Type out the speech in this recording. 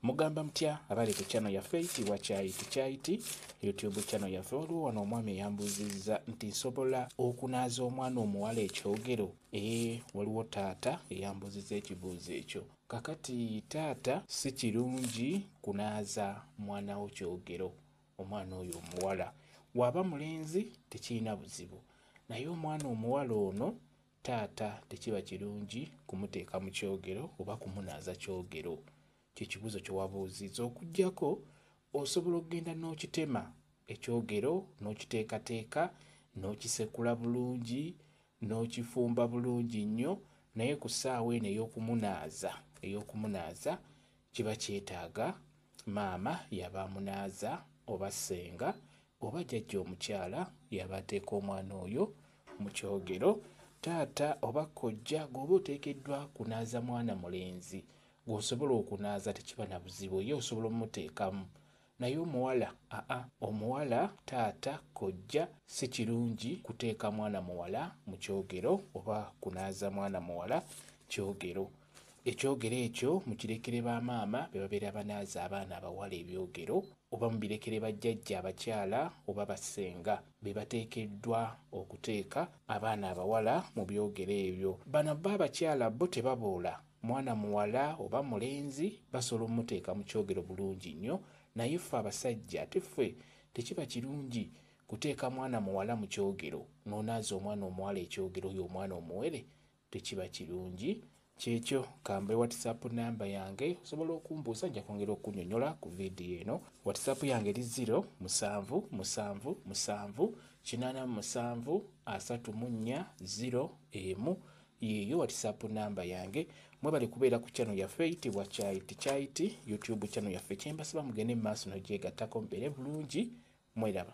Mugamba mutya abali ku channel yaffe eyitibwa kyayi tukyaiti youtube channel yaffe waliwo wano omwami eyambuuzizza nti nsobola okunaaza omwana omuwala ekyogero ee waliwo taata eyambuuzizza ekibuuzo ekyo kakati taata si kirungi kunaaza mwana wo kyogero omwana oyo omuwala waaba mulenzi tekirina buzibu naye omwana omuwala ono Taata tekiba kirungi kumuteeka mu kyogero oba kumunaaza kyogero. Kye kibuuzo kye wabuuzizza okuggyako osobola okugenda n'okitema ekyogero n'okiteekateeka n'okisekula bulungi n'okifumba bulungi nnyo naye ku ssaawa eno ey'okumunaaza ey'okumunaaza Kiba kyetaaga maama y'aba amunaaza oba ssenga oba jjajja omukyala y'aba ateeka omwana oyo mu kyogero. Taata oba kkojja gw'oba oteekeddwa kunaaza mwana mulenzi gw'osobola okunaaza tekiba na buzibu ye osobola omuteekamu. Naye omuwala aa omuwala taata kojja sikirungi kuteeka mwana muwala mukyogero oba kunaaza mwana muwala kyogero ekyogero ekyo mukirekere ba maama bebabeera banaaza abaana abawala ebyogero oba mubirekere ba jjajja abakyala oba ba ssenga bebateekeddwa okuteeka abaana abawala mubyogero ebyo bano bbo abakyala bbo tebaboola Mwana muwala oba mulenzi basobola omuteeka mu kyogero bulungi nnyo naye ffe abasajja ate ffe tekiba kirungi kuteeka mwana muwala mu kyogero n'onaaza omwana omuwala ekyogero oyo omwana omuwere tekiba kirungi. Kyekyo kambe whatsapp number yange osobola okumbuuza nja kwongera okunyonyola ku vidiyo eno. Whatsapp yange eri ziro musanvu musanvu musanvu kinaana musanvu asatu mu nnya ziro emu Yeeyo whatsapp number yange. Mwebale kubeera ku channel yaffe eyitibwa Chai to Chai Tea YouTube channel yaffe. Kyembasaba mugende mu maaso n'ogyegattako mubeere bulungi. Mweraba.